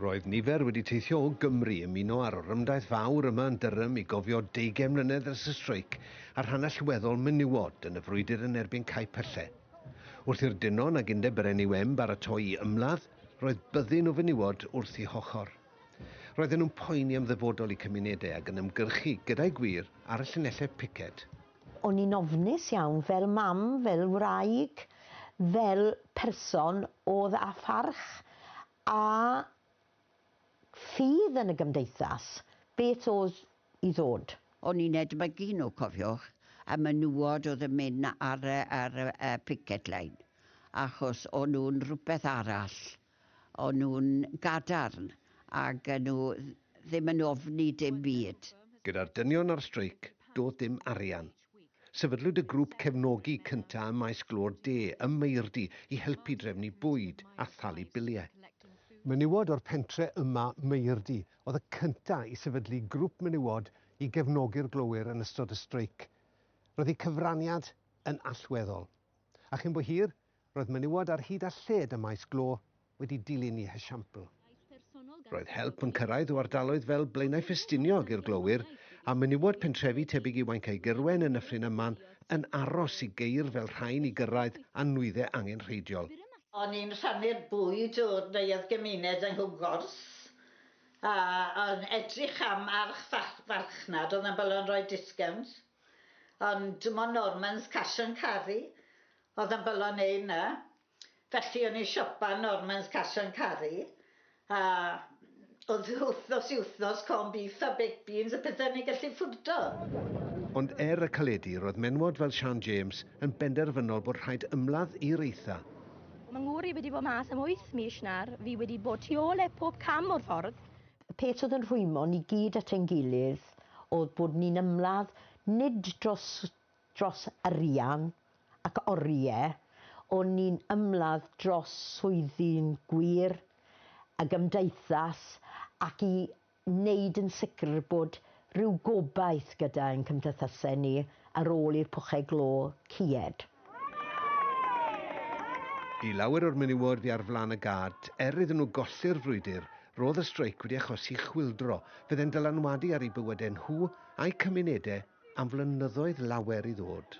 Roedd nifer wedi teithio o Gymru ymuno â'r orymdaith fawr yma yn Durham i gofio deugain mlynedd ers y streic a'r rhan allweddol menywod yn y frwydr yn erbyn cau pylle. Wrth i'r dynon ag undeb yr NUM baratoi i ymladd, roedd byddin o fenywod wrth eu hochr. Roedden nhw'n poeni am ddyfodol eu cymunedau ag yn ymgyrchu, gyda'i gwir, ar y llinellau piced. O'n i'n ofnus iawn, fel mam, fel wraig, fel person o'dd â pharch a ffydd yn y gymdeithas, beth o'dd i ddod. O'n i'n edmygu nhw, cofiwch, y menywod o'dd yn mynd ar y picket line, achos o'n nhw'n rwbeth arall. O'n nhw'n gadarn ac o'n nhw ddim yn ofni dim byd. Gyda'r dynion ar streic, doedd dim arian. Sefydlwyd y grŵp cefnogi cyntaf ym Maes Glo'r De ym Maerdy i helpu drefnu bwyd a thalu biliau. Menywod o'r pentre yma, Maerdy, oedd y cyntaf i sefydlu grŵp menywod i gefnogi'r glowyr yn ystod y streic. Roedd eu cyfraniad yn allweddol. A chyn bo hir, Roedd menywod ar hyd a lled ym Maes Glo wedi dilyn i hesiampl. Roedd help yn cyrraedd o ardaloedd fel Blaenau Ffestiniog i'r glowyr, a menywod pentrefi tebyg i Wauncae Gyrwen yn Nyffryn Yman yn aros i geir fel rhain i gyrraedd a nwyddau angenrheidiol. O'n i'n rhannu'r bwyd o'r Neuadd Gymuned yng Nghwmgors, a yn edrych am arch farchnad oedd yn bolo yn rhoi discownt, ond dim ond Norman's Cash and Carry Oedd yn bolo neu na. Felly o'n i'n siopa Norman's Cash and Carry a oedd wythnos i wythnos corn beef a baked beans y pethau o'n ni'n gallu ffwrdo. Ond er y caledi, roedd menywod fel Siân James yn benderfynol bod rhaid ymladd i'r eitha. Mae Ngwr i wedi bod mas am wyth mis nawr, fi wedi bod tu ôl e pob cam o'r ffordd. Y peth oedd yn rhwymo ni gyd at ein gilydd oedd bod ni'n ymladd nid dros dros arian ac oriau, o'n ni'n ymladd dros swyddi'n gwir, y gymdeithas ac i wneud yn sicr bod rhyw gobaith gyda ein cymdeithasau ni ar ôl i'r pwchau glo ceued. I lawer o'r menywod fu ar flaen y gad, er iddyn nhw golli'r frwydr, roedd y streic wedi achosi chwyldro, fydd e'n dylanwadu ar eu bywydau nhw a'i cymunedau am flynyddoedd lawer i ddod.